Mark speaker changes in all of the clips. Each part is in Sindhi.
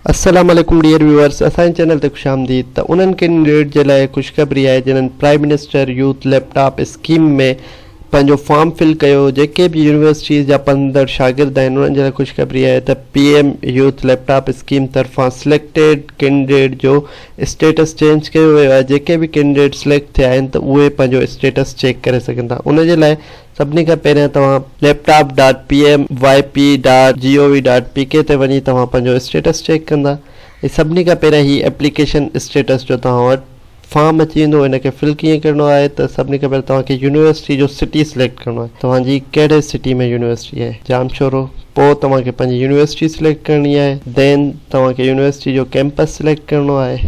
Speaker 1: السلام عليڪم ڊيئر ويوئرس اسان جي چينل تي خوش آمديد ته انهن ڪينڊيڊيٽ جي لاء خوشخبري آهي جنهن prime minister youth laptop scheme ۾ پنهنجو فارم فل ڪيو جيڪي به يونيورسٽيز جا پڙهندڙ شاگرد آهن انهن جي لاء خوشخبري آهي ته P M youth laptop scheme طرفان سليڪٽيڊ ڪينڊيڊيٽ جو اسٽيٽس چينج ڪيو ويو آهي جيڪي به ڪينڊيڊيٽ سليڪٽ ٿيا آهن ته اهي پنهنجو اسٽيٽس چيڪ ڪري سگهن ٿا ان جي لاء سڀني کان پهريان توهان Laptop dot P M Y P dot G O V dot P K تي وڃي توهان پنهنجو اسٽيٽس چيڪ ڪندا ۽ سڀني کان پهريان هي ايپليڪيشن اسٽيٽس جو توهان وٽ فارم اچي ويندو ان کي فل ڪيئن ڪرڻو آهي ته سڀني کان پهريان توهان کي يونيورسٽي جو سٽي سليڪٽ ڪرڻو آهي توهان جي ڪهڙي سٽي ۾ يونيورسٽي آهي جام شورو پوء توهان کي پنهنجي يونيورسٽي سليڪٽ ڪرڻي آهي دين توهان کي يونيورسٽي جو ڪيمپس سليڪٽ ڪرڻو آهي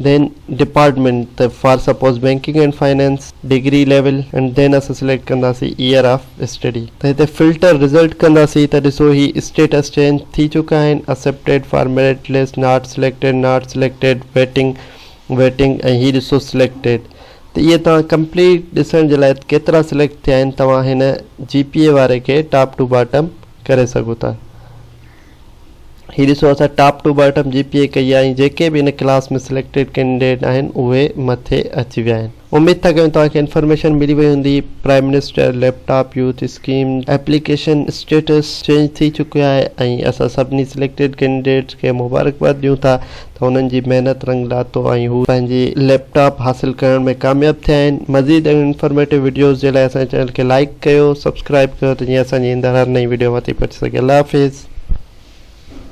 Speaker 1: دين ڊپارٽمينٽ ته for suppose banking and finance degree level and then اسان سليڪٽ ڪنداسي ايئر آف اسٽڊي ته هتي فلٽر رزلٽ ڪنداسي ته ڏسو هي اسٽيٽس چينج ٿي چڪا آهن accepted for merit list not selected not selected waiting waiting ۽ هي ڏسو سليڪٽيڊ ته اهي توهان ڪمپليٽ ڏسڻ جي لاء ڪيترا سليڪٽ ٿيا آهن توهان هن جي پي اي واري کي ٽاپ ٽو باٽم ڪري سگهو ٿا. هي ڏسو اسان top to bottom G P A ڪئي آهي ۽ جيڪي به هن ڪلاس ۾ سليڪٽيڊ ڪينڊيڊيٽ آهن اهي مٿي اچي ويا آهن اميد ٿا ڪيون توهان کي انفارميشن ملي وئي هوندي prime minister laptop youth scheme application status change ٿي چڪو آهي ۽ اسان سڀني سليڪٽيڊ ڪينڊيڊيٽس کي مبارڪباد ڏيون ٿا ته هنن جي محنت رنگ لاٿو ۽ هو پنهنجي ليپ ٽاپ حاصل ڪرڻ ۾ ڪامياب ٿيا آهن. مزيد اهڙين انفارميٽو وڊيوز جي لاء اسان جي چينل کي لائيڪ ڪيو سبسڪرائيب ڪيو ته جيئن اسان جي ايندڙ هر نئين وڊيو اوهان تائين پهچي سگهي الله حافظ.